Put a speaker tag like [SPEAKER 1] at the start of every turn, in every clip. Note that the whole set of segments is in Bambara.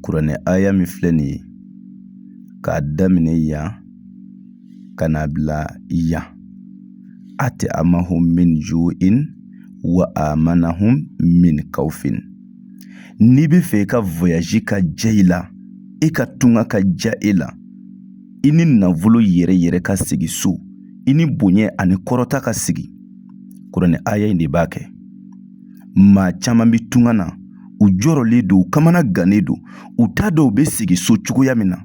[SPEAKER 1] kuranɛ aya min filɛ nin ye k'a daminɛ yan ka n'a bila yan atamahum min juin wa amanahum min kawfin n'i bɛ fɛ i ka voyaji ka diya i la i ka tunga ka diya e la i ni nafolo yɛrɛ yɛrɛ ka segin so i ni bonya ani kɔrɔta ka segin kuranɛ aya in de b'a kɛ maa caman bɛ tunga na u jɔrɔlen don u kamana gannen don u t'a dɔn u bɛ segin so cogoya min na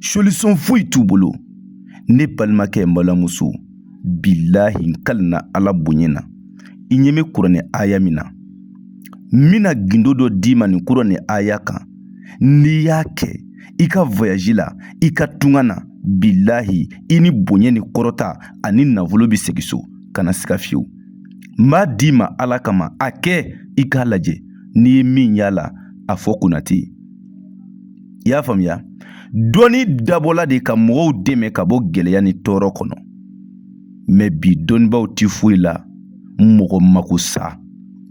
[SPEAKER 1] solisɔn foyi t'u bolo ne balimakɛ n balimamuso bilahi n kalina ala bonya na i ɲɛ bɛ kuranɛ aya min na n bɛna gindo dɔ d'i ma nin kuranɛ aya kan n'i y'a kɛ i ka voyaji la i ka tunga na bilahi i ni bonya ni kɔrɔta ani nafolo bɛ segin so kana siga fiyewu n b'a d'i ma ala kama a kɛ i k'a lajɛ n'i ye min y'a la a fɔ kɔmantɛri i y'a faamuya dɔnni dabɔla de ka mɔgɔw dɛmɛ ka bɔ gɛlɛya ni tɔɔrɔ kɔnɔ mɛ bi dɔnnibaaw ti foyi la mɔgɔ mako sa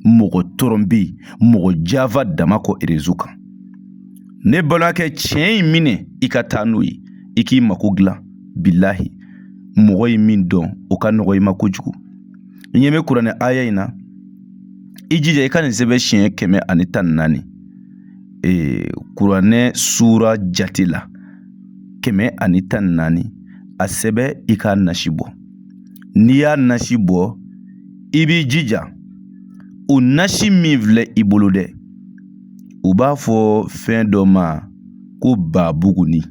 [SPEAKER 1] mɔgɔ tɔrɔnpe mɔgɔ janfa dama kɔ erezo kan ne balimakɛ tiɲɛ in minɛ i ka taa n'o ye i k'i mako dilan bilahi mɔgɔ ye min dɔn o ka nɔgɔ i ma kojugu i ɲɛ bɛ kuranɛ aya in na i jija i ka nin sɛbɛn siɲɛ kɛmɛ ani tan ni naani ee kuranɛ suura jate la kɛmɛ ani tan ni naani a sɛbɛn i k'a nasi bɔ n'i y'a nasi bɔ i b'i jija o nasi min filɛ i bolo dɛ u b'a fɔ fɛn dɔ ma ko babugunin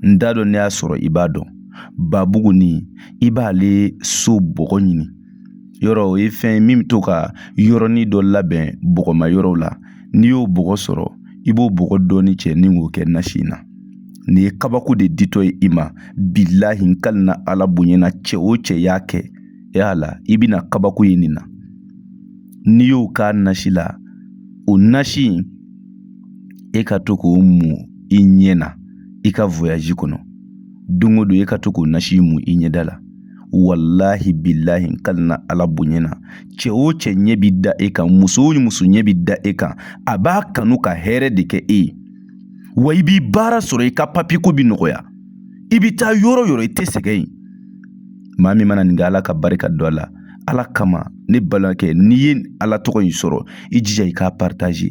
[SPEAKER 1] n t'a dɔn n'i y'a sɔrɔ i b'a dɔn babugunin i b'ale so bɔgɔ ɲini yɔrɔ o ye fɛn ye min bɛ to ka yɔrɔnin dɔ labɛn bɔgɔma yɔrɔw la n'i y'o bɔgɔ sɔrɔ i b'o bɔgɔ dɔɔni cɛ ni k'o kɛ nasi in na nin ye kabako de ditɔ ye i ma bilahi n kalina ala bonya na cɛ o cɛ y'a kɛ yala i bɛna kabako ye nin na n'i y'o k'a nasi la o nasi in e ka to k'o mu i ɲɛ na i ka voyaji kɔnɔ don o don e ka to k'o nasi mu i ɲɛda la walahi bilahi n kalina ala bonya na cɛ o cɛ ɲɛ bi da e kan muso o muso ɲɛ bi da e kan a b'a kanu ka hɛrɛ de kɛ e ye wa i bi baara sɔrɔ i ka papiye ko bi nɔgɔya i bi taa yɔrɔ yɔrɔ i tɛ sɛgɛn ye maa min mana nin kɛ ala ka barika don a la ala kama ne balimakɛ n'i ye ala tɔgɔ in sɔrɔ i jija i k'a paritaze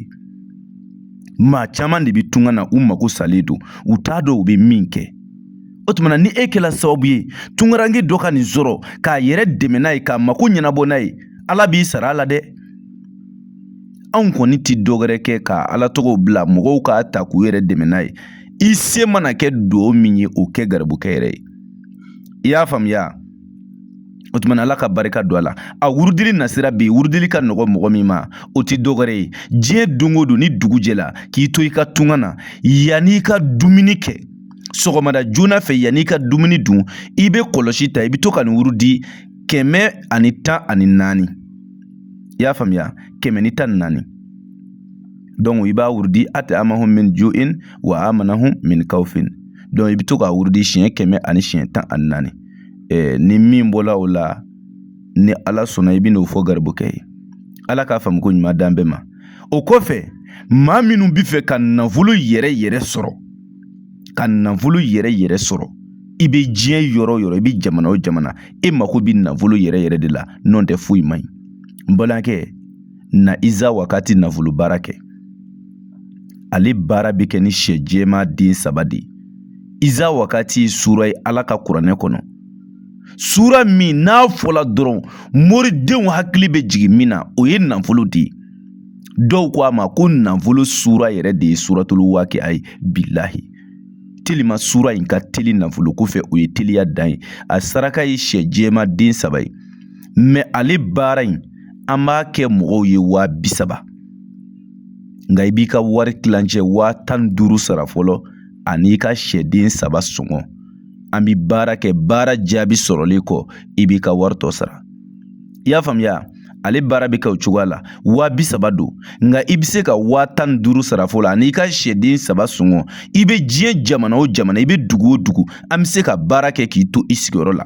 [SPEAKER 1] maa caman de bɛ tunga na u mako salen don u t'a dɔn u bɛ min kɛ o tuma na ni e kɛla sababu ye tungaranke dɔ ka nin sɔrɔ k'a yɛrɛ dɛmɛ n'a ye k'a mako ɲɛnabɔ n'a ye ala b'i sara a la dɛ anw kɔni tɛ dɔwɛrɛ kɛ ka ala tɔgɔw bila mɔgɔw k'a ta k'u yɛrɛ dɛmɛ n'a ye i se mana kɛ dugawu min ye o kɛ garibukɛ yɛrɛ ye i y'a faamuya o tuma na ala ka barika don a la a wurudili nasira bi wurudili ka nɔgɔ mɔgɔ min ma o ti dɔgɔrɛ ye diɲɛ don o don ni dugu jɛla k'i to i ka tunga na yan'i ka dumuni kɛ sɔgɔmada joona fɛ yan'i ka dumuni dun i bɛ kɔlɔsi ta i bɛ to ka nin wurudi kɛmɛ ani tan ani naani i y'a faamuya kɛmɛ ni tan ni naani i b'a wurudi at'amahum min ju'in wa amanahum min kawfin i bɛ to ka wurudi siɲɛ kɛmɛ ani siɲɛ tan ani naani ni min bɔra o la ni ala sɔnna i bɛ n'o fɔ garibukɛ ye ala k'a faamu ko ɲuman d'an bɛɛ ma o kɔfɛ maa minnu bɛ fɛ ka nafolo yɛrɛ yɛrɛ sɔrɔ ka nafolo yɛrɛ yɛrɛ sɔrɔ i bɛ diɲɛ yɔrɔ o yɔrɔ i bɛ jamana o jamana e mako bɛ nafolo yɛrɛ yɛrɛ de la n'o tɛ foyi man ɲi n balimakɛ na iza wakati nafolo baara kɛ ale baara bɛ kɛ ni sɛ jɛma den saba de ye iza wakati sura ye ala ka kuranɛ kɔnɔ sura min n'a fɔla dɔrɔn moridenw hakili bɛ jigin min na o ye nafolo de ye dɔw ko a ma ko nafolo sura yɛrɛ de ye suratulu waakia ye bilahi telima sura in ka teli nafolo ko fɛ o ye teliya dan ye a saraka ye sɛ jɛma den saba ye mɛ ale baara in an b'a kɛ mɔgɔw ye wa bi saba nka i b'i ka wari tilancɛ wa tan ni duuru sara fɔlɔ an'i ka sɛden saba sɔngɔ an bi baara kɛ baara jaabi sɔrɔlen kɔ i b'i ka wari tɔ sara i y'a faamuya ale baara bɛ kɛ o cogoya la wa bi saba don nka i bɛ se ka wa tan ni duuru sara fɔlɔ an'i ka sɛden saba sɔngɔ i bɛ diɲɛ jamana o jamana i bɛ dugu o dugu an bɛ se ka baara kɛ k'i to i sigiyɔrɔ la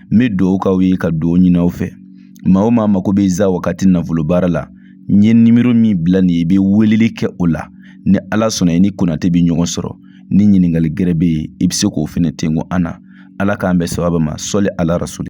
[SPEAKER 1] n bɛ dugawu k'aw ye ka dugawu ɲini aw fɛ maa o maa mako bɛ iza wakati nafolo baara la n ye nimoro min bila nin ye i bɛ weleli kɛ o la ni ala sɔnna i ni konate bɛ ɲɔgɔn sɔrɔ ni ɲininkali gɛrɛ bɛ yen i bɛ se k'o fɛnɛ tenko an na ala k'an bɛn sababa ma sɔli ala rasuli